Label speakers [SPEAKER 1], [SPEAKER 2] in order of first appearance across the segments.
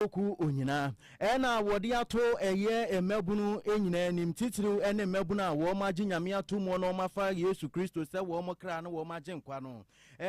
[SPEAKER 1] Nnipakuo kuo nyinaa na wɔde ato ɛyɛ mmabunu nyinaa anim, titiriw ne mmabunu a wɔagye Nyame ato mu na wɔafa Yesu Kristo sɛ wɔn kra ne wɔn agyenkwa no.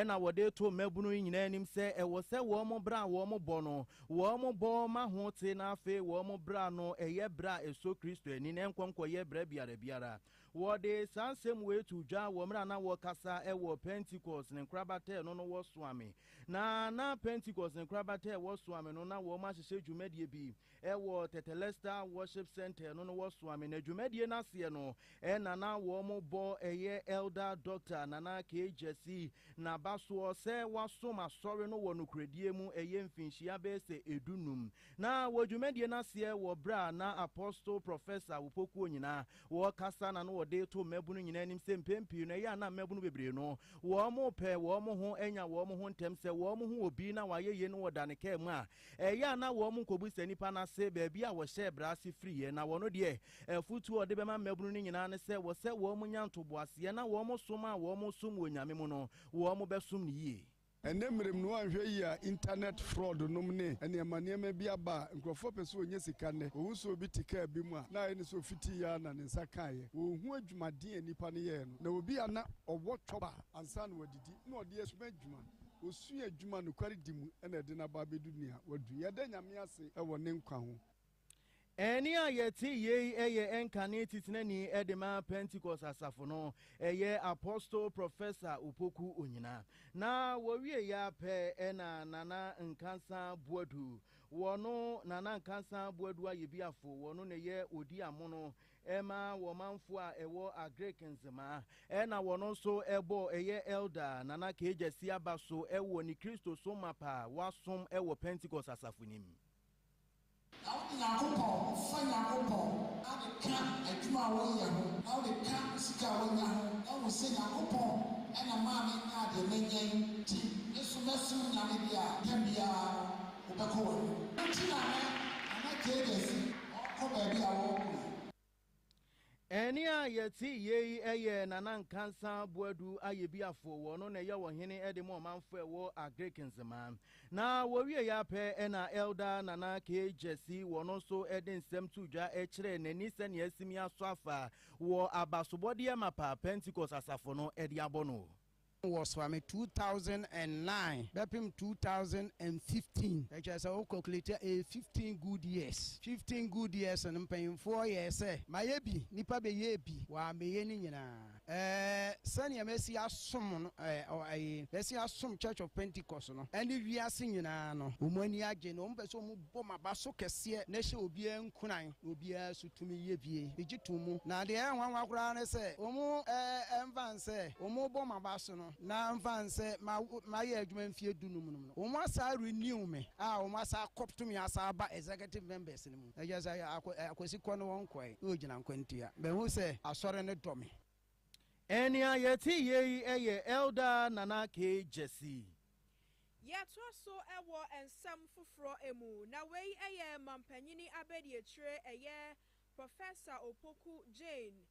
[SPEAKER 1] Na wɔde reto mmabunu nyinaa anim sɛ ɛwɔ sɛ wɔn bra a wɔbɔ no, wɔbɔ ma ho te na afei wɔn bra no yɛ bra a ɛsɔ Kristo ani na ɛnkɔ nkɔyɛ bra biara biara. Wɔde saa nsɛm wei too dwa wɔ mmerɛ a na wɔkasa wɔ Pentecost ne nkorabata a ɛno no wɔsoame. Na na Pentecost ne nkorabata a wɔsoame no na wɔn ahyehyɛ dwumadie bi wɔ Tetelestai Worship Centre ɛno no wɔsoame na dwumadie no aseɛ no na na wɔn bɔ ɛyɛ Elder Doctor Nana K. Gyasi nabasoɔ sɛ wasom asɔre no wɔ nokorɛdie mu ɛyɛ mfinhyia bɛyɛ sɛ ɛdu num Ná wɔ dwumadie no aseɛ wɔ berɛ a na Apostle Professor Awopokuo nyinaa wɔ kasa na na wɔde to mmabunu nyinaa anim sɛ mpɛn pii no ɛyɛ a na mmabunu bebree no wɔn pɛ wɔn ho anya wɔn ho ntɛm sɛ wɔn ho obi na wayɛ yie no wɔda ne kaa mu a ɛyɛ a na wɔn nkɔbusa nipa no ase baabi a wɔhyɛɛ bra ase firiiɛ na wɔno deɛ afutuo a ɔde bɛma mmabunu no nyinaa ne sɛ wɔ sɛ wɔn nya ntoboaseɛ na wɔn som a wɔn som wɔ Nyame mu no wɔn bɛsom no yie. Ɛnnɛ mmerɛ mu no woanhwɛ
[SPEAKER 2] yie a internet fraud nom ne nneɛma nneɛma bi aba a nkurɔfoɔ pɛ sɛ wɔnya sika nnɛ. Wohu sɛ obi te kaa bi mu a na ayɛ no sɛ ɔfitii ara na ne nsa kaeɛ. Wɔnhu adwumaden a nnipa no yɛeɛ no. Na obi a na ɔwɔ chopper ansa na wadidi na ɔde asuma adwuma, ɔsua adwuma a nokwaredi mu na ɛde no aba abɛdu nea wadu. Yɛda Nyame ase wɔ ne nkwa ho. Ɛnne
[SPEAKER 1] a yɛte yɛ yi yɛ ɛnkane titenani de ma Pentekoste Asafo no. Ɛyɛ Apostle Professor Opoku Onyina. Na wɔwiei ara pɛ na Nana Nkansa Boadu, wɔno Nana Nkansa Boadu Ayebiafo, wɔno na ɛyɛ ɔdi amono ma wɔmanfoɔ a ɛwɔ Agric Nzema, ɛna wɔno nso bɔ ɛyɛ Elder Nana Kegyasi Aba so wɔ ne Kristosom mapa a wɔasom wɔ Pentekoste Asafo no mu.
[SPEAKER 3] Na wode Nyankopɔn, fa Nyankopɔn, ade ka adwuma a wonyɛ ho, na wode ka sika a wonya ho, na hu sɛ Nyankopɔn na maa me nyaa deɛ manya yi, nti me nso mɛsom Nyame deɛ a, da biara no wobɛkɔ w'anim. Nti na nɛ Nana Gyei Gyasi ɔɔkɔ baabi a wɔɔko yi.
[SPEAKER 1] Ɛnne a yɛte yɛ yi yɛ Nana Nkansa Boadu Ayebiafo, wɔno na ɛyɛ ɔhene de ma ɔmanfo a ɛwɔ Agric Nzema. Na wɔwieɛ ara pɛ na Elder Nana Kay Gyasi, wɔno nso de nsɛm too dwa kyerɛɛ n'ani sɛnea asimi asɔ afa wɔ abasobɔdeɛ mapa Pentecost asafo no de abɔ no. wɔ Swami two thousand and
[SPEAKER 4] nine bɛpem two thousand and fifteen ɛkyerɛ sɛ wo calculate a ɛyɛ fifteen good years fifteen good years no mpanyinfoɔ yɛɛ sɛ mayɛ bi nipa bɛyɛɛ bi wammɛyɛ ne nyinaa ɛɛ sɛdeɛ masi asom no ɛɛ ɔ ɛɛ masi asom church of pentecost no ɛne wiase nyinaa no wɔn ani agye na wɔn pɛ sɛ wɔn Bɔ m'aba so kɛseɛ na hyɛ obiara nkuran, na obiara so tumi yɛ bie. Megye tom mu. Na deɛ ɛyɛ nwanwa koraa ne sɛ, wɔmfa no sɛ wɔrebɔ m'aba so no, na mfa no sɛ mayɛ adwuma mfeɛ du num nom no, wɔasan renew me a wɔasan akɔto me asan aba executive members no mu. Ɛkyerɛ sɛ Akwasi kɔ no wɔnkɔɛ na ɔgyina nkwantia. Mahu sɛ Asɔre no dɔ me. Ɛnea
[SPEAKER 1] yɛte yɛ yi yɛ Elder Nana K. Gyasi.
[SPEAKER 5] Yɛtoa so wɔ nsɛm foforɔ mu, na wei yɛ Mampanyini Abadiakyire, ɛyɛ Professor Opoku Jane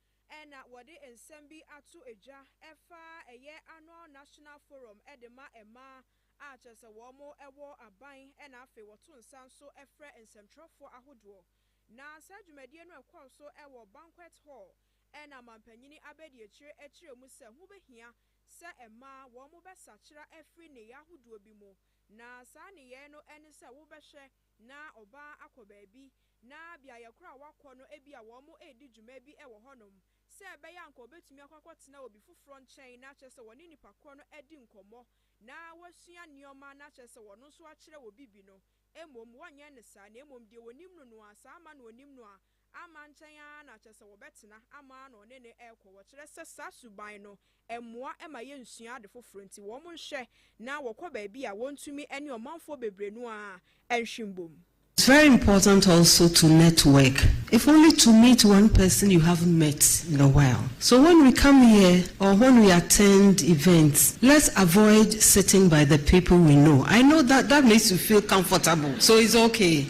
[SPEAKER 5] na wɔde nsɛm bi ato dwa ɛfa ɛyɛ Annual National Forum de ma mmaa a kyerɛ sɛ wɔn wɔ aban na afei wɔto nsa nso frɛ nsɛmtwerɛfoɔ ahodoɔ na saa dwumadie no ɛkɔɔ so wɔ Banquet Hall Ɛna amampanyini abɛdiakyire ɛkyerɛ mu sɛ ho bɛhia sɛ ɛmaa wɔn bɛsakyera afiri nneyɛɛ ahodoɔ bi mu, na saa nneyɛɛ no ɛne sɛ wo bɛhwɛ na ɔbaa akɔ baabi na beaeɛ korɔ a wakɔ no ebia wɔn redi dwuma bi wɔ hɔ nom sɛ ɛbɛyɛ a anka ɔbɛtumi akɔ akɔtena obi foforɔ nkyɛn na kyerɛ sɛ wɔne nipa korɔ no adi nkɔmmɔ na wasua nneɛma na kyerɛ sɛ ɔno nso akyerɛ obi bi no mmom wɔnyɛ no saa na mmom deɛ ɔnim no no a saa ama no ɔnim no a amma nkyɛn ara na kyerɛ sɛ wɔbɛtena ama na ɔne no rekɔ. Wɔkyerɛ sɛ saa suban no mmoa ma yensua ade foforo nti, wɔnhwɛ na wɔkɔ baabi a wontumi ne ɔmanfoɔ bebree no ara nhwe mbom. It's very
[SPEAKER 6] important also to network, if only to meet one person you haven't met in a while. So when we come here or when we attend events, let's avoid sitting by the people we know. I know that that makes you feel comfortable, so it's okay.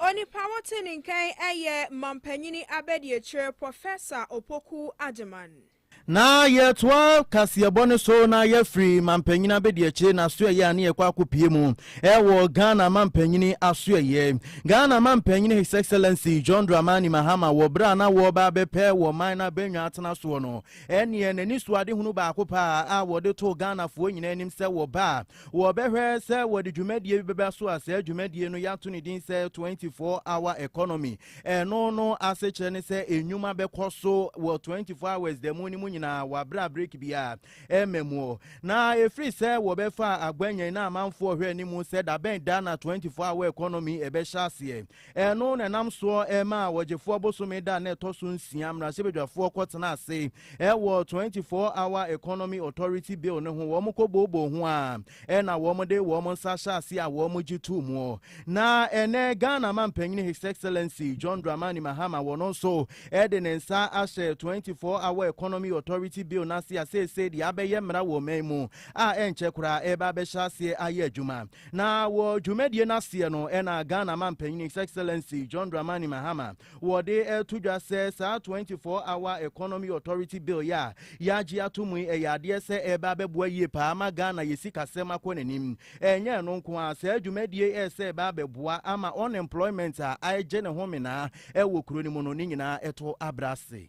[SPEAKER 5] Onipa wote ne nkan ɛyɛ Mampanyini Abɛdiakyire Professor Opoku Agyeman. Na
[SPEAKER 1] yɛtoa kaseɛbɔ no so na yɛafiri mampanyini abɛdiakyire n'asoɛyɛ a ne yɛkɔ akɔpie mu ɛwɔ Ghana mampanyini asoɛyɛ Ghana mampanyini His Excellency John Dramani Mahama wɔ berɛ a na wɔreba abɛpɛ wɔ man no abɛnwa atena soɔ no ɛneɛ n'ani so adehunu baako paa a wɔde too Ghanafoɔ nyinaa anim sɛ wɔba a Wɔbɛhwɛ sɛ wɔde dwumadie bi bɛba so a saa dwumadie no yɛato ne din sɛ 24 hour economy. Ɛno no ase kyerɛ ne sɛ nnwuma bɛkɔ so wɔ 24 hours da mu no mu nyinaa wɔabrɛ break biara ɛma mu. Na ɛfiri sɛ wɔbɛfaa agwanyan na amanfoɔ hwɛ ne mu sɛ dabɛn da na 24 hour economy ɛbɛhyɛ aseɛ. Ɛno na ɛnam soɔ maa ɔgyefoɔ bosome da a na ɛtɔ so nsia mmarahyɛbadwafoɔ kɔtena ase wɔ 24 Hour Economy Authority Bill no ho, wɔn kɔbooboo ho a ɛna wɔde wɔn nsa hyɛ ase a wɔn gye too muɔ. Na ɛnɛ Ghana Mampanyini His Excellency John Dramani Mahama wɔno nso de ne nsa ahyɛ 24 Hour Economy Authority Bill no ase a seesei deɛ abɛyɛ mmara wɔ ɔman mu a ɛnkyɛ koraa ɛreba abɛhyɛ aseɛ ayɛ adwuma. Na wɔ dwumadie no aseɛ no ɛna Ghana Mampanin His Excellency John Dramani Mahama wɔde reto dwa sɛ saa 24 hour economy authority bill yi a yɛagye ato mu yi ɛyɛ adeɛ sɛ ɛreba abɛboa yie paa ama Ghana yɛ sikasɛm akɔ n'anim. Ɛnyɛ ɛno nko ara, saa dwumadie yi ɛyɛ sɛ ɛba abɛboa ama unemployment a aegye ne ho menaa wɔ kuro no mu no ne nyinaa ɛtɔ abra ase.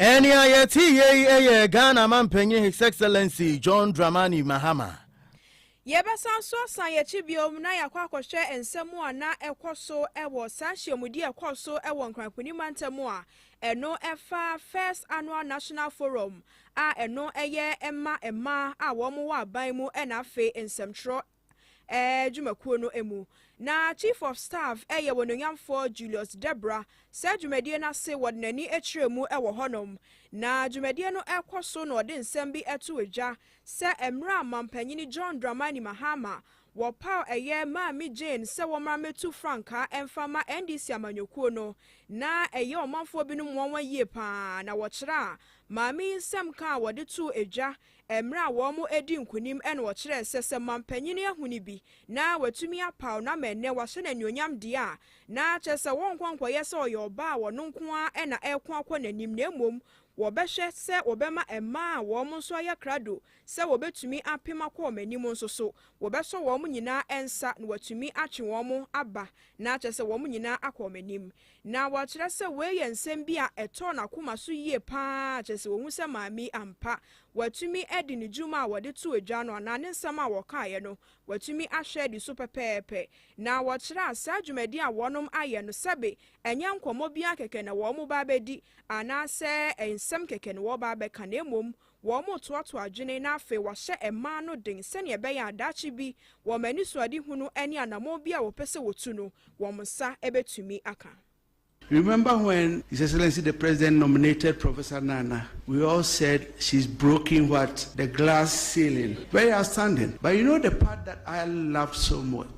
[SPEAKER 1] Ɛnea yɛte yɛ yi yɛ Ghana Mampanyin His Excellency John Dramani Mahama. Yɛbɛsan
[SPEAKER 5] nso asan yɛn akyi bio na yɛakɔ akɔhwɛ nsɛm a na ɛkɔ so wɔ saa nhyiamudi a ɛkɔɔ so wɔ Nkran Kuni mantam a ɛno fa First Annual National Forum a ɛno yɛ ma mmaa a wɔwɔ aban mu na afei nsɛmtwerɛ dwumakuo no mu. Na Chief of Staff yɛ Onuonyamfoɔ Julius Debra. Saa dwumadie no ase wɔde n'ani kyerɛɛ mu wɔ hɔnom. Na dwumadie no rekɔ so na ɔde nsɛm bi too dwa sɛ mmerɛ a Mampanyini John Dramani Mahama wɔpaw ɛyɛ Maame Jane sɛ wɔmmra mmɛtu frankaa mfa mma NDC amanyɔkuo no na ɛyɛ ɔmanfoɔ binom nwanwa yie pa ara na wɔkyerɛ a Maame yi nsɛm ka a wɔde too dwa Mmerɛ a wɔn adi nkonim ɛna ɔkyerɛɛ sɛ sɛ mampanyini ahuni bi na watumi apaw na ama ɛnnɛ wahyɛ no anuonyam deɛ a, na kyerɛ sɛ wɔnkɔ nkɔyɛ sɛ ɔyɛ ɔbaa a ɔno nko ara ɛna ɛreko akɔ n'anim na mmom wɔbɛhwɛ sɛ wɔbɛma ɛmmaa a wɔn nso ayɛ krado sɛ wɔbɛtumi apem akɔ wɔn anim nso so wɔbɛsɔ wɔn nyinaa nsa na watumi atwe wɔn aba na kyerɛ sɛ wɔn nyinaa akɔ wɔn anim. Na wɔkyerɛ sɛ wei yɛ nsɛm bi a ɛtɔɔ n'akoma so yie pa ara, kyerɛ sɛ wɔhu sɛ maame yi ampa, watumi adi ne dwuma a wɔde too dwa no anaa ne nsɛm a wɔkaeɛ no, watumi ahwɛ adi so pɛpɛɛpɛ. Na wɔkyerɛɛ saa dwumadie a wɔnom ayɛ no, sɛbe ɛnyɛ nkɔmmɔ biara kɛkɛ na wɔreba abɛdi, anaasɛ nsɛm kɛkɛ na wɔreba abɛka, na mmom Wɔretoato adwene na afei wɔahyɛ mmaa no den sɛnea ɛbɛyɛ a daakye bi, wɔn anisoadehunu ne anammɔn biara a wɔpɛ sɛ wɔtu no, wɔn nsa bɛtumi aka. Remember
[SPEAKER 7] when His Excellency the President nominated Professor Nana, we all said she's broken what? The glass ceiling. Very outstanding. But you know the part that I love so much?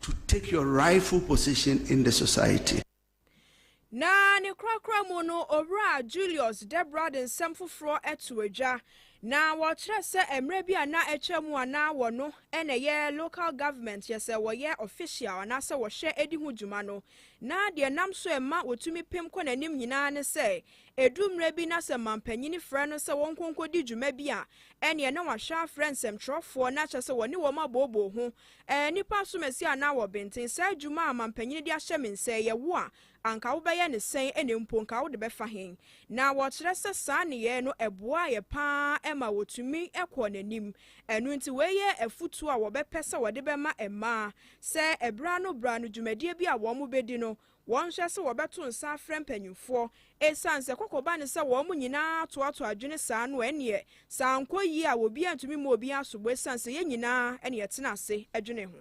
[SPEAKER 7] To take your rightful position in the society. Na
[SPEAKER 5] ne korakora mu no, Owura Julius Debra de nsɛm foforɔ to adwa, na wɔkyerɛ sɛ mmerɛ bi a na atwa mu a na wɔno na ɛyɛ local government yɛ sɛ wɔyɛ official anaasɛ wɔhwɛ di ho dwuma no, na deɛ ɛnam so ɛma wɔtumi pem kɔ n'anim nyinaa ne sɛ ɛdu mmerɛ bi na sɛ mampanyini frɛ no sɛ wɔnkɔ nkɔdi dwuma bi a ɛneɛ na wahwɛ afrɛ nsɛmtwerɛfoɔ na kyerɛ sɛ wɔne wɔn abooboo ho Ɛɛ, nnipa nsomasia anan wɔ benten, saa adwuma a mampanyin de ahyɛ me nsa yi, ɛwo a, anka wobɛyɛ no sɛn, ɛnna mpo anka wode bɛfa he? Na wɔkyerɛ sɛ saa nneyɛe no, ɛboaa yɛ paa ma wotumi kɔɔ n'anim. Ɛno nti, wei yɛ afotu a wɔbɛpɛ sɛ wɔde bɛma mmaa, sɛ bere ano bere ano dwumadie bi a wɔbedi no, Wɔnhwɛ sɛ wɔbɛto nsa afrɛ mpanimfoɔ. Ɛsiane sɛ kɔkɔ ba ne sɛ wɔn nyinaa atoatoa adwene saa no, ɛnneɛ sɛ ankɔ yie a, obiara ntumi mmɔ obiara sobo ɛsiane sɛ yɛn nyinaa na yɛtena ase dwene ho.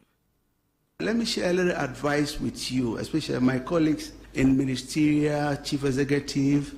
[SPEAKER 5] Let me
[SPEAKER 7] share a little advice with you, especially my colleagues in ministerial, chief executive,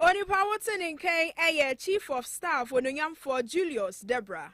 [SPEAKER 5] Onipa wote ne nkan yɛ Chief of Staff Onuonyamfoɔ Julius Deborah.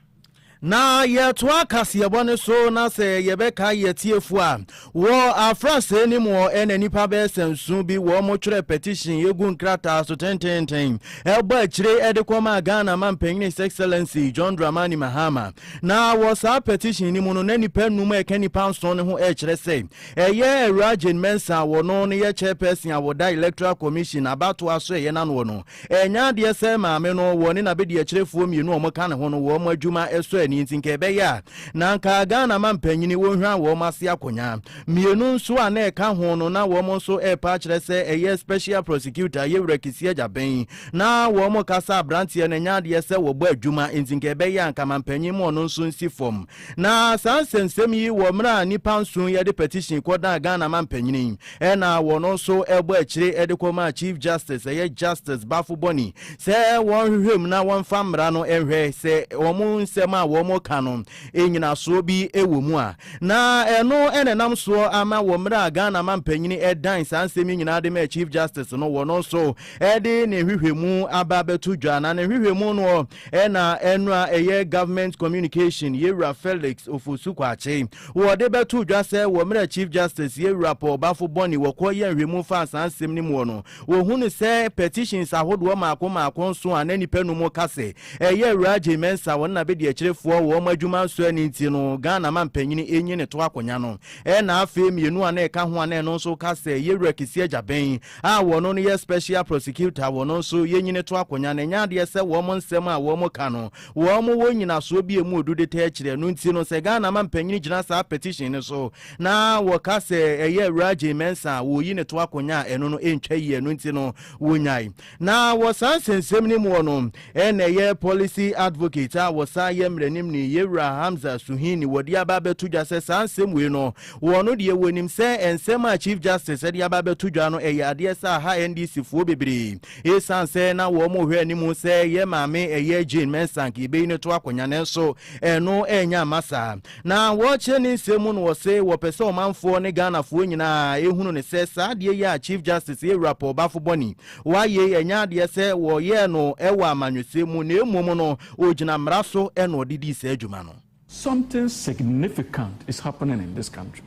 [SPEAKER 5] Na
[SPEAKER 1] yɛtoa kaseɛbɔ no so na sɛ yɛbɛka yɛ atiefo a, wɔ afrasɛɛ no mu ɔ na nnipa bɛyɛ sɛ nson bi wɔ mo twerɛ petition egu nkrataa so tententen ɛbɔ akyire de kɔmaa Ghana Mampanyini His Excellency John Dramani Mahama. Na wɔ saa petition no mu no na nnipa num ɛka nnipa nson no ho ɛkyerɛ sɛ Ɛyɛ Awuraa Jane Mensah a wɔno no yɛ Chairperson a wɔda Electoral Commission abatoɔ asoɛeɛ no anoɔ no ɛnyɛ adeɛ sɛ maame no wɔne n'abɛdiakyirefoɔ mmienu a wɔka ne ho no wɔn adwuma sɔ ani nti nka ɛbɛyɛ a na nka Ghana mampanyini wɔhwira wɔn ase akonya mmienu nso a na ɛka ho no na wɔn nso repa akyerɛ sɛ ɛyɛ Special Prosecutor Yewura Kissi Agyabɛn na wɔn kasa abranteɛ no ɛnyɛ adeɛ sɛ wɔbɔ adwuma nti nka ɛbɛyɛ a nka mampanyini ma ɔno nso nsi fam Na saa nsɛmsɛm yi wɔ mmerɛ a nnipa nson yɛ de petition kɔ daa Ghana mampanin yi ɛna wɔn nso bɔ akyire de kɔ maa Chief Justice ɛyɛ Justice Bafo Boni sɛ wɔn nhwehwɛ mu na wɔn mfa mmara no nhwɛ sɛ wɔn nsɛm a wɔn reka no nyinasoɔ bi wɔ mu a na ɛno na ɛnam soɔ ama wɔ mmerɛ a Ghana mampanin ɛdan saa nsɛm yi nyinaa de maa Chief Justice no wɔn nso ɛde ne nhwehwɛ mu aba bɛto dwa na ne nhwehwɛ mu no Ɛna ɛno a ɛyɛ Government Communication Yɛwura Felix Ofosu Kwakye, wɔde bɛtoo dwa sɛ wɔ mmerɛ a Chief Justice Yɛwura Paul Bafo Bɔne wɔkɔɔ yɛɛ nhwɛmu faa saa nsɛm no mu hɔ no, wɔhunu sɛ petitions ahodoɔ mmaako mmaako nso a na nnipa num reka sɛ ɛyɛ Awuraa Agyei Mensah wɔn n'abɛdiakyirefoɔ wɔ wɔn adwuma nso ani nti no Ghana mampanyini nyi ne to akonya no. Ɛna afei mmienu a na ɛka ho a na ɛno nso ka sɛ Yɛwura Kissi Agyabɛn a wɔno no yɛ special prosecutor wɔno nso yɛ nyini to akonya no ɛnyɛ adeɛ sɛ wɔn nsɛm a wɔn ka no wɔn wɔ nyinasoɔ bi ɛmu odu de tɛɛ kyerɛ ɛno nti no sɛ Ghana ma mpanyini gyina saa petition no so na wɔka sɛ ɛyɛ awuraa Jay Mensah a wɔyi no to akonya a ɛno no ɛntwa yie ɛno nti no wɔnyae na wɔ saa nsɛnsɛm no mu wɔ no Ɛna ɛyɛ Policy Advocate a wɔsan yɛ Mmaranimni, Yewura Hamza Suhuyini wɔde aba abɛto dwa sɛ saa nsɛm wei no, wɔ ɔno deɛ wɔnim sɛ nsɛm a Chief Justice de aba abɛto dwa no ɛyɛ adeɛ sɛ aha NDC foɔ bebree ɛsiane sɛ na wɔn rehwɛ anim sɛ yɛn maame ɛyɛ Jane Mensah nka yɛbɛyi no to akonnwa nanso ɛno ɛnyɛ amma saa. Na wɔkyerɛ ne nsɛm mu no wɔse wɔpɛ sɛ ɔmanfoɔ ne Ghanafoɔ nyinaa ɛhunu no sɛ saa adeɛ yi a Chief Justice Yewura Paul Bafo Bɔni Wɔayɛ yi ɛnyɛ adeɛ sɛ wɔyɛɛ no wɔ amanyɔsɛm mu na mmom no ɔgyina mmara so na ɔde dii saa adwuma no. Something
[SPEAKER 8] significant is happening in this country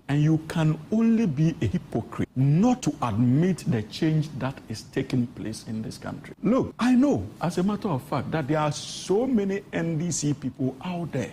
[SPEAKER 8] and you can only be a hypocrite not to admit the change that is taking place in this country. Look, I know as a matter of fact that there are so many NDC people out there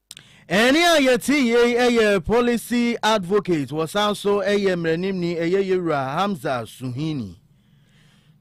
[SPEAKER 8] Ɛne a
[SPEAKER 1] yɛte yei yɛ Policy Advocate, wɔsan so yɛ mmaranimni, ɛyɛ Yɛwura Hamza Suhuyini.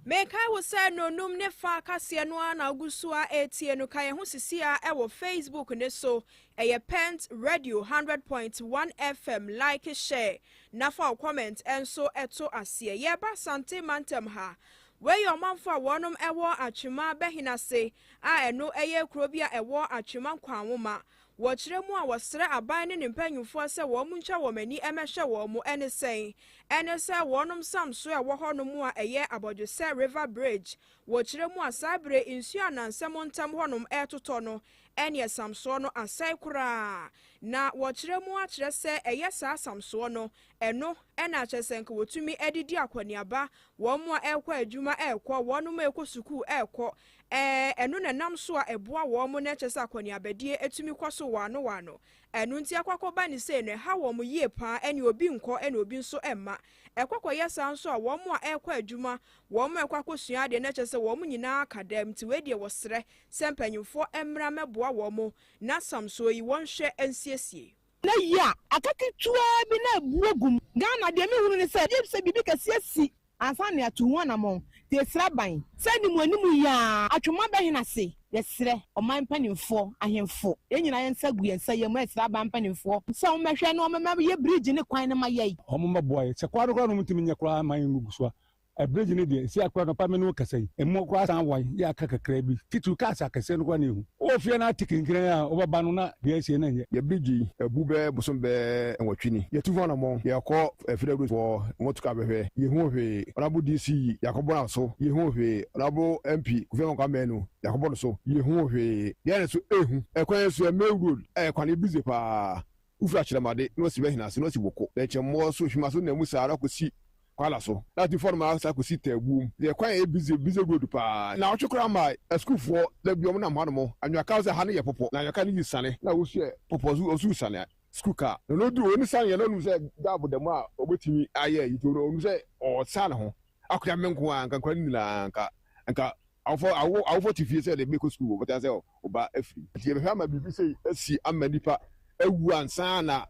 [SPEAKER 5] Mekae wo sɛ nnɔnnum ne fa kaseɛ no ara na wogu so ara retie no. Ka yɛn ho sisi ara wɔ Facebook no so. Ɛyɛ Pent Radio hundred point one FM. Like, share, na fa wo comment nso to aseɛ. Yɛreba Asante Mantam ha. Wei yɛ ɔmanfo a wɔnom wɔ Atwema Bɛhene ase. a ɛno yɛ kuro bi a ɛwɔ Atwema Nkwanwoma, wɔ kyerɛ mu a wɔsrɛ aban ne ne mpanyimfoɔ sɛ wɔn ntwa wɔn ani mmɛhwɛ wɔn ne sɛn ɛne sɛ wɔnom sam so a ɛwɔ hɔ nom a ɛyɛ abɔdwesɛ River Bridge wɔ kyerɛ mu a saa bere nsuo a nansɛ mo ntɛm hɔ nom ɛretotɔ no ɛneɛ samsoɔ no asɛe koraa na wɔ kyerɛ mu akyerɛ sɛ ɛyɛ saa samsoɔ no ɛno ɛna akyerɛ sɛ nka wɔtumi ɛde di akɔneaba wɔn a ɛrekɔ adwuma ɛrekɔ wɔnom a ɛrekɔ sukuu ɛrekɔ Ɛɛ, ɛno na ɛnam so a ɛboa wɔn na ɛkyɛ sɛ akɔneabadie tumi kɔ so wɔano wɔano. Ɛno nti ɛkɔ akɔba ne sei no, ɛha wɔn yie pa ara, ɛne obi nkɔ ɛne obi nso mma. Ɛkɔ kɔyɛ saa nso a wɔn a ɛrekɔ adwuma, wɔn a ɛrekɔ akɔsua adeɛ na ɛkyɛ sɛ wɔn nyinaa aka dam. Nti wei deɛ wɔsrɛ sɛ mpanyimfoɔ mmra mmɛboa wɔn na samsoɔ yi wɔnhwɛ nsiesie. Nnɛ yi a,
[SPEAKER 9] aka ketewaa bi na abu agu mu. Ghana, deɛ mehunu ne sɛ, gye sɛ biribi kɛseɛ si ansa na yɛato ho anammɔn. Nti yɛsrɛ aban sɛ animuanim yi ara, atwoma bɛhe na ase? Yɛsrɛ ɔman mpanimfoɔ, ahemfo, yɛn nyinaa yɛn nsa gu yɛn nsa yam resrɛ aban mpanimfoɔ sɛ wɔmmɛhwɛ na wɔmmɛma yɛ bridge no kwan no ma yɛn. Wɔmmɛboa yɛn. Sɛ
[SPEAKER 2] kwan no koraa na wɔntumi nyɛ koraa mma yɛngugu so a, Abridge no deɛ ɛsi akora anɔpa me ne wo kasa yi, ɛmu koraa san wan yɛ aka kakraa bi, titiriw cars akɛseɛ no koraa na ɛhu. Wowɔ fie na ate kinkran a wobɛba no na deɛ ɛresie no nyɛ. Yɛ bridge yi abu bɛyɛ bosom bɛyɛ nwɔtwe ni, yɛtu ho anammɔn, yɛkɔ Federal Road wɔ motor car bɛhwɛ, yɛhuu hwee, Honourable DC yɛakɔbɔ no aso, yɛhuu hwee, Honourable MP Kofi Amankwa Manu yɛakɔbɔ no so, yɛhuu hwee, deɛn na nso ɛrehu, ɛkwan yi nso yɛ Main Road a ɛkwan yi busy paa, Wofi akyerɛmade na wɔasi bɛhena ase na wɔasi boko, na ɛkyɛ mmɔɔ so, hwima so na mu saa ara kɔsi kwaala so, na ati fam no ara saa kɔsi taabuom. Yɛ kwan a ɛyɛ bize, busy road, pa ara. Nnaawɔtwe koraa mmae, asukuufoɔ da bi wɔnam hanom, anwea kaa sɛ ha no yɛ pɔpɔ, na anwea kaa no yi sane, na wɔhyɛ pɔpɔ nso wɔn so sane, sukuu kaa, na na ɔdi wɔn ne saneɛ, na ɔnim sɛ Dab da mu a ɔbɛtumi ayɛ ayi, nti ɔnim sɛ ɔresan ne ho. Akoa me nko ara nka nkwadaa no nyinaa nka nka awofo awo awofo te fie sɛ de bɛkɔ sukuu wɔbɛka sɛ ɔba afiri. Nti yɛbɛhwɛ ama biribi sei asi ama nipa awu ansa na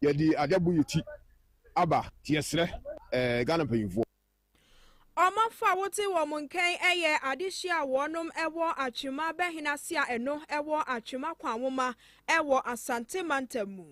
[SPEAKER 2] yɛde ade abɔ yɛn ti aba. Nti yɛsrɛ ɛɛ Ghana mpanyinfoɔ.
[SPEAKER 5] Ɔmɔfo a wote wɔn nkɛn yɛ adehye a wɔnom wɔ Atwema bɛhena se a ɛno wɔ Atwema Kwanwoma Ɛwɔ Asante Mantam mu.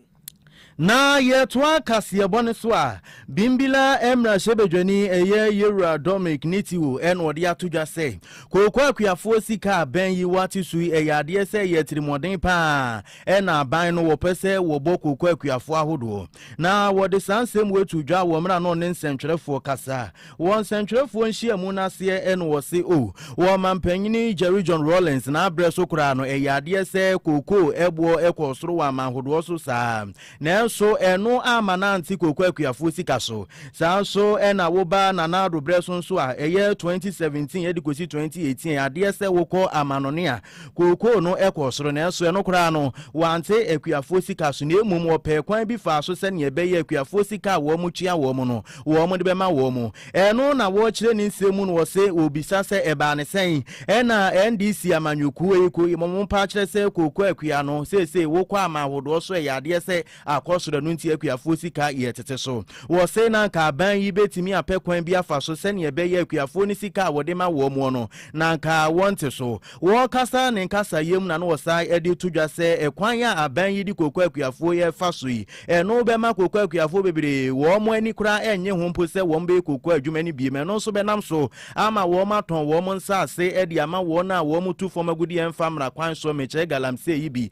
[SPEAKER 5] Na
[SPEAKER 1] yɛtoa kaseɛbɔ no so a, Bimbilla mmarahyɛbadwani ɛyɛ Yewura Dormick Nitiwo na ɔde ato dwa sɛ, Kooko akuafoɔ sika a bɛn yi wɔate so yi, ɛyɛ adeɛ sɛ ɛyɛ atirimuɔden pa ara na aban no wɔpɛ sɛ wɔbɔ kooko akuafoɔ ahodoɔ. Na wɔde saa nsɛm wei too dwa wɔ mmerɛ a na ɔne nsɛntwerɛfoɔ kasa Wɔ nsɛntwerɛfoɔ nhyiamu no aseɛ no wɔse o, wɔ ɔmampanyini Jerry John Rawlings n'aberɛ so koraa no ɛyɛ adeɛ sɛ kookoo ɛboɔ kɔɔ soro wɔ aman hodoɔ so saa ara, nanso ɛno amma no ante kookoo akuafoɔ sika so. Saa ara nso na woba Nana Addo berɛ so nso a, ɛyɛ 2017 de kɔsi 2018 ɛyɛ adeɛ sɛ wokɔ amannɔne a, Kookoo no kɔɔ soro, nanso ɛno koraa no, wɔante akuafoɔ sika so, na mmom wɔpɛɛ kwan bi faa so sɛdeɛ ɛbɛyɛ a akuafoɔ sika a wɔtua wɔn no, wɔde bɛma wɔn. Ɛno na wɔkyerɛ ne nsɛm mu no, wɔse, wɔbisa sɛ, ɛbaa no sɛn? Ɛna NDC amanyɔkuo yi, mo mpaakyerɛ sɛ kookoo akua no, seesei wokɔ aman ahodoɔ so, ɛyɛ adeɛ sɛ akɔ soro, ɛno nti akuafoɔ sika yɛ tete so. Wɔse na anka aban yi bɛtumi apɛ kwan bi afa so sɛdeɛ ɛbɛyɛ akuafoɔ no sika a wɔde ma wɔn no, na anka wɔnte so. Wɔkasa ne nkasayɛ mu na na wɔsan de to dwa sɛ ɛkwan a aban yi de kooko akuafoɔ yi refa so yi, ɛno bɛma kooko akuafoɔ bebree wɔn ani koraa nnye ho mpo sɛ wɔbɛyɛ kooko adwuma no bio, ɛno nso bɛnam so ama wɔatɔn wɔn nsaase de ama wɔn a wɔtu fam agudeɛ mfa mmara kwan so mmɛkyɛ galamsey yi bi.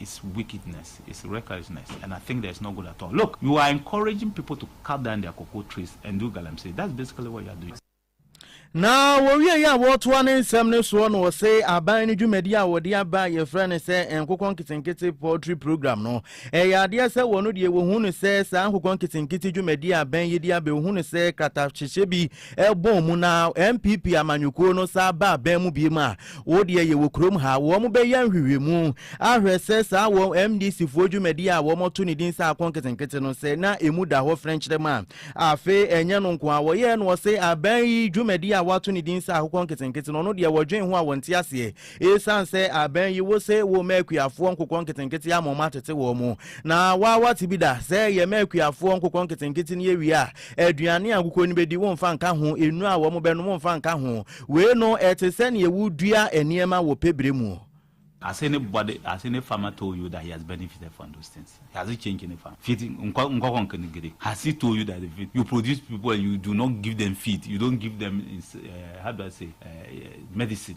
[SPEAKER 10] is wickedness is recklessness and I think there is no good at all look you are encouraging people to cut down their cocoa trees and do galamsey that's basically what you are doing. Na
[SPEAKER 1] wɔwieeɛ a wɔtoa ne nsɛm no soɔ no ɔse aban no dwumadi a wɔde aba a yɛfrɛ no sɛ nkokɔ nketenkete poultry program no ɛyɛ adeɛ sɛ wɔn deɛ wɔhu no sɛ saa nkokɔ nketenkete dwumadi a aban yi de aba wɔhu no sɛ kratahyɛhyɛ bi ɛbɔɔ mu na NPP amanyɔkuo no san ba abɛn mu biom a, wo deɛ yɛwɔ kurom ha. Wɔn bɛyɛ nhwehwɛmu ahwɛ sɛ saa wɔn MDC foɔ dwumadie a wɔn to ne din sɛ Ako Nketenkete no sɛ na ɛmu da hɔ frɛnkyerɛm a. Afei ɛnyɛ no nko ara, wɔyɛɛ no ɔse abɛn yi dwumadie a wɔato ne din sɛ Akokɔ Nketenkete no ɔno deɛ wɔdwen ho a wɔnte aseɛ. Esiane sɛ abɛn yi wose wo mma akuafoɔ nkokɔ nketenkete ama wɔatete wɔn, na woa woate bi da sɛ yɛ mma akuafoɔ nkokɔ nketenkete no awie a, aduane a nkokɔ no bɛdi womfa nka ho, nnuro a wɔbɛnom womfa nka ho. Wei no, ɛte sɛ nea wodua nneɛma wɔ pɛ berɛ mu. As
[SPEAKER 10] anybody, as any farmer told you that he has benefited from those things? Has he changed any farm? Feed nkokɔ nketenkete, has he told you that they feed? You produce people and you do not give them feed, you don't give them, how do I say, medicine.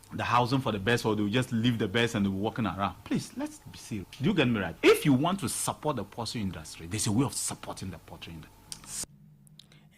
[SPEAKER 10] the housing for the best or they will just leave the best and they will walking around please let's be serious do you get me right if you want to support the pottery industry there's a way of supporting the pottery industry.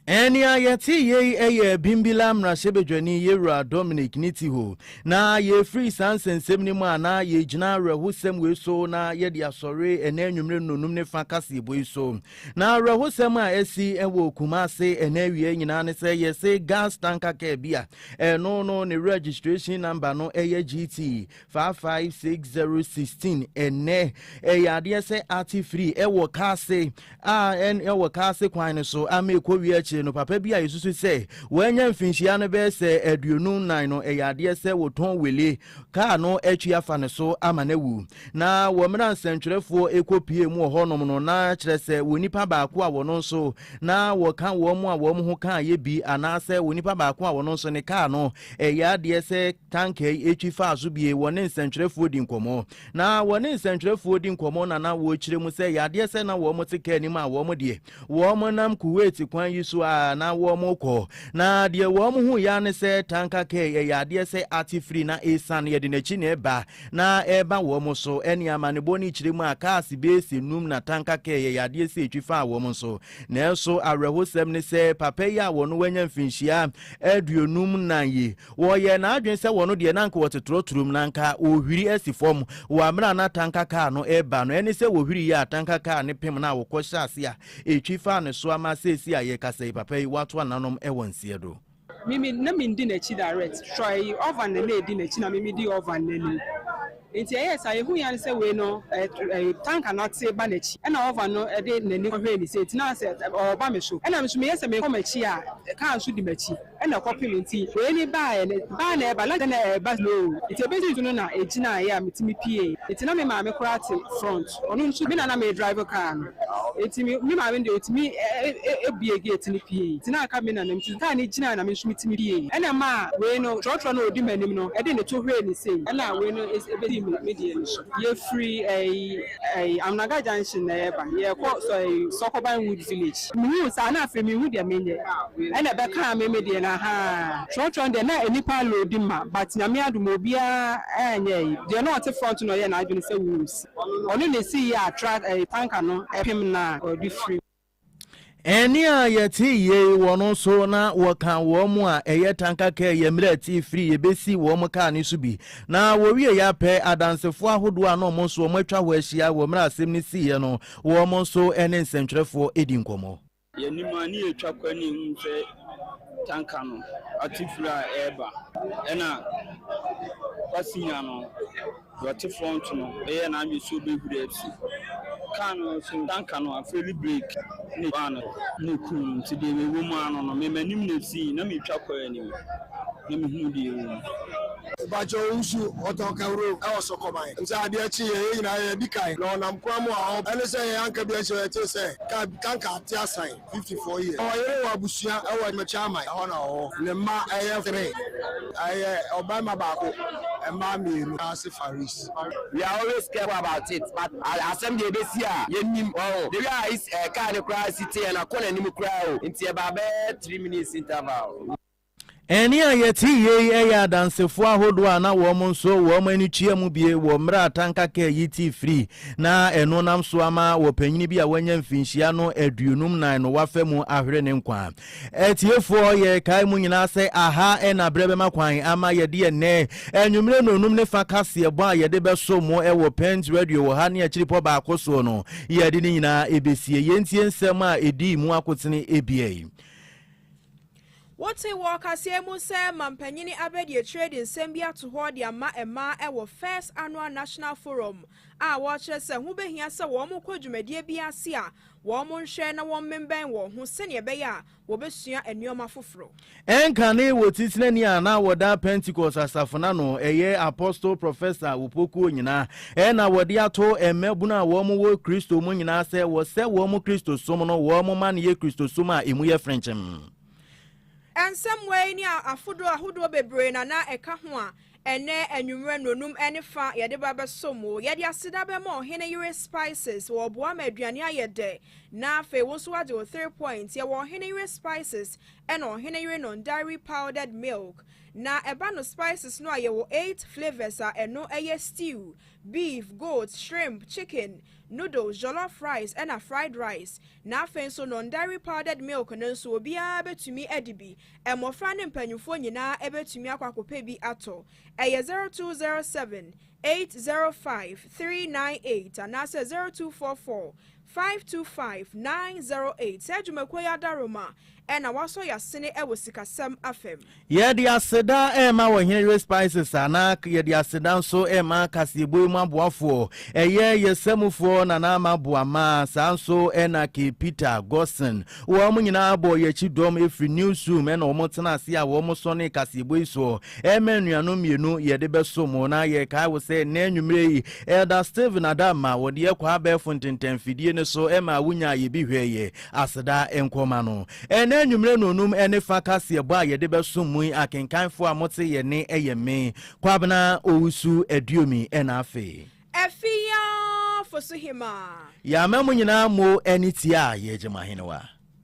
[SPEAKER 1] Ɛnea yɛte yei yɛ Bimbilla mmarahyɛbadwani Yewura Dominic Nitiho, na yɛrefiri saa nsɛnsɛm no mu a na yɛgyina awerɛhosɛm wei so na yɛde asɔre ɛnɛ anwummere nnonum ne fa kaseɛbɔ yi so. Na awerɛhosɛm a asi wɔ Kumase ɛnɛ awia nyinaa ne sɛ yɛse gas tanka kaa bi a Ɛno no ne registration number no ɛyɛ GT 55616 ɛnɛ ɛyɛ adeɛ sɛ ate firi ɛwɔ kaase a ɛwɔ kaase kwan no so ama ɛkɔ wie akyire no papa bi a yɛsusu sɛ wɔanya mfinhyia no bɛyɛ sɛ aduonu nan no ɛyɛ adeɛ sɛ wɔtɔn wele kaa no atwi afa ne so ama no awu. Na wɔ mmerɛ a nsɛntwerɛfoɔ rekɔpue mu wɔ hɔnom no, na kyerɛ sɛ onipa baako a wɔn nso na wɔka wɔn a wɔn ho kaa yɛ bi, anaasɛ onipa baako a wɔn nso ne kaa no ɛyɛ adeɛ sɛ tanka yi atwi faa so bie, wɔne nsɛntwerɛfoɔ di nkɔmmɔ. Na wɔne nsɛntwerɛfoɔ di nkɔmmɔ na na wɔkyerɛ mu sɛ ɛyɛ adeɛ sɛ na wɔn te kaa anim a wɔn deɛ Wɔnam Kuwait kwan yi so ara na wɔrekɔ, na deɛ wɔhui ara ne sɛ tanka kɛɛ ɛyɛ adeɛ sɛ ate firi na ɛresiane, ɛde n'akyi na ɛreba, na ɛreba wɔn so. Ɛnneɛ amanebɔ no kyerɛ mu a cars base nnum na tanka kɛɛ ɛyɛ adeɛ sɛ ɛtwi faa wɔn so. Nanso awerɛhosɛm ne sɛ papa yi a ɔno wanya mfinhyia aduonum nnan yi, Wɔyɛɛ n'adwene sɛ wɔn deɛ na anka wɔte torɔtorom, na anka wɔrehwiri asi fam wɔ amerɛ a na atanka kaa no reba no. Ɛne sɛ wɔhwiriiɛ a atanka kaa no pem no a wɔkɔ hyɛɛ ase a ɛtwi faa no so ama seesei a yɛrekasa yi papa yi wato ananom wɔ nseɛ do. Me me na mendi
[SPEAKER 11] n'akyi direct. Troy Ovan na na ɛdi n'akyi na me medi Ovan no anim. Enti ɛyɛɛ saa, yɛhuu yɛ ane sɛ wei no tanka no ate ba n'akyi, ɛna ɔva no de n'ani kɔhwɛɛ ne sɛ ɛtina sɛ ɔreba me so, ɛna me nso meyɛ sɛ merekɔ m'akyi a kaa nso di m'akyi, ɛna ɛkɔpem nti wei ne baeɛ no baeɛ na ɛba, lɔre na ɛba slow, nti ɛbɛduruu so no na ɛgyinaeɛ a metumi puee, enti na me maame koraa te front. Ɔno nso me na na meredrive kaa no nti me maame no deɛ ɔtumi buee gate no piee nti na aka me nana nti kaa no gyinaeɛ na me nso metumi piee ɛna ɛmaa wei no trɔtrɔ no a ɔdi m'anim no ɛde ne to huree ne sei ɛna wei no ɛbɛdii me deɛ no so. Yɛfiri ɛyi ɛyi Amunaga junction na yɛreba yɛrekɔ ɛyi Sɔkɔban Wood village. Mehuu saa na afei menhu deɛ menyɛ ɛna ɛbɛkaa me me deɛ no ahaa trɔtrɔ no deɛ na nnipa loadi ma but Nyame adom obiara anyɛ ɛyi deɛ na ɔte front no ɔyɛɛ n'adwene sɛ wuu. Ɔno na esii yɛ a
[SPEAKER 1] truck ɛyi tanker no pem no a ɔde firi. Ɛnne a yɛte yei wɔ no so na wɔka wɔn a ɛyɛ tanka kaa yɛ mmerɛ atii firi yɛbɛsi wɔn kaa no so bi na wɔwie yɛ apɛ adansefoɔ ahodoɔ a na wɔn nso wɔn atwa hɔ ahyia wɔ mmerɛ asɛm no siiɛ no wɔn nso ne nsɛntwerɛfoɔ di nkɔmmɔ. Yɛnim a ne
[SPEAKER 12] yɛtwa kwan ne yɛhu sɛ tanka no ate firi a ɛreba ɛna passenger no deɛ ɔte front no yɛ n'adwene sɛ ɔbɛhuri afiri kaa no so tanka no afeli break ne baa no ne kum no nti deɛ mewɔ mu ara no no me m'anim na ɛsii na metwa kwan anim. na mehunu deɛ ɛwɔ mu. Mpakyɛ wo
[SPEAKER 13] nso ɔtɔ kawuro wɔ sɔkɔman ɛfiri sɛ adeɛ kye yɛn yɛn nyinaa yɛ di kan na ɔnam kwan mu a ɔba ɛne sɛ yɛn anka bi nhyɛ yɛtee sɛ car bi tanka ate asan 54 years na ɔyere wɔ abusua wɔ Mekyaman ɛhɔ na ɔwɔ ne mma ɛyɛ three ɛyɛ ɔbarima baako mmaa mmienu Ase Faris. We are always
[SPEAKER 14] careful about it but asɛm deɛ ɛbɛsi a yɛnnim wahu the way a car no koraa si teɛ na kɔ n'anim koraa o nti ɛbaa bɛyɛ three minutes interval. Ɛnne a
[SPEAKER 1] yɛte yie yi yɛ Adansefo ahodoɔ a na wɔn nso wɔn ani kyea mu bie wɔ mmerɛ a tanka kaa yi tee firi na ɛno nam so ama ɔpanyini bi a wanya mfinhyia no aduonum nan no wafa mu ahwere ne nkwa. Atiefoɔ, yɛrekae mo nyinaa sɛ aha na berɛ bɛma kwan ama yɛde ɛnnɛ anwummerɛ nnɔnum ne fa kaseɛbɔ a yɛde bɛso mo wɔ Pent Radio wɔ ha ne akyiripɔ baako soɔ no, yɛde ne nyinaa ɛbɛsie. Yɛntie nsɛm a ɛdii mu akotene ebia yi.
[SPEAKER 5] Wote wɔ ɔkaseɛ mu sɛ Mampanyini Abedi Akyire de nsɛm bi ato hɔ de ama mmaa wɔ First Annual National Forum a wɔrekyerɛ sɛ ho bɛhia sɛ wɔkɔ dwumadie bi ase a wɔnhwɛ na wɔmmemmɛn wɔn ho sɛdeɛ ɛbɛyɛ a wɔbɛsua nneɛma foforɔ. Ɛnkane
[SPEAKER 1] wɔ Titenani a na wɔda Pentecost Asafo no ano, ɛyɛ Apostle Professor Opoku Onyina, Ɛna wɔde ato mmabunu a wɔwɔ Kristo mu nyinaa sɛ wɔsɛ wɔn Kristosom no, wɔn ma no yɛ Kristosom a emu yɛ frenkyemm.
[SPEAKER 5] Nsɛmmoa yi ne afodoro ahodoɔ bebree na na ɛka ho a ɛnnɛ anwummerɛ nnɔnum ne fa yɛde ba bɛso mo. Yɛde aseda bɛma Ɔhene Yere Spices, wɔboa ma aduane ayɛ dɛ na afei wo nso woagye wo three point. Yɛwɔ Ɔhene Yere Spices ɛna Ɔhene Yere Non-Dairy Powdered Milk. Na ɛba no spices no a yɛwɔ eight flavours a ɛno yɛ stew, beef, goat, shrimp, chicken, noodles, jollof rice ɛna fried rice. Na afei nso non-dairy powdered milk no nso obiara bɛtumi adi bi, mmɔfra ne mpaninfoɔ nyinaa bɛtumi akɔ akɔpɛ bi atɔ. Ɛyɛ zero two zero seven eight zero five three nine eight anaasɛ zero two four four Five two five nine zero eight Saa dwumakuo yi adaroma na wɔasɔ y'asene wɔ sikasɛm afam. Yɛde aseda
[SPEAKER 1] rema Ɔhene-Yere Spices a na yɛde aseda nso rema kaseɛbɔ yi mu aboafoɔ, ɛyɛ yɛ samufoɔ Nana Ama Boamah, saa nso na Kay Peter, Gosson, wɔn nyinaa bɔ yɛn akyi dɔm firi Newsroom na wɔn tena ase a wɔn sɔnee kaseɛbɔ yi soɔ. Ɛma anuanom mmienu yɛde bɛsom wo na yɛkae wo sɛ nnɛ anwummerɛ yi Elder Steven Adamma wɔde yɛ kɔɔ abɛɛfo ntentɛnfidie no so ma wonyaa yɛ bi hwɛeɛ. Aseda nkɔ ma no. Ɛnnɛ anwummerɛ nonum ne fa kaseɛbɔ a yɛde bɛsom mu yi akenkanfoɔ a mote yɛn nne yɛ me, Kwabena Owusu Aduomi ɛna afei. Afia Fosuhema. Yɛama mo nyinaa mo ani
[SPEAKER 5] tiaa
[SPEAKER 1] yɛn Gyamahene wa.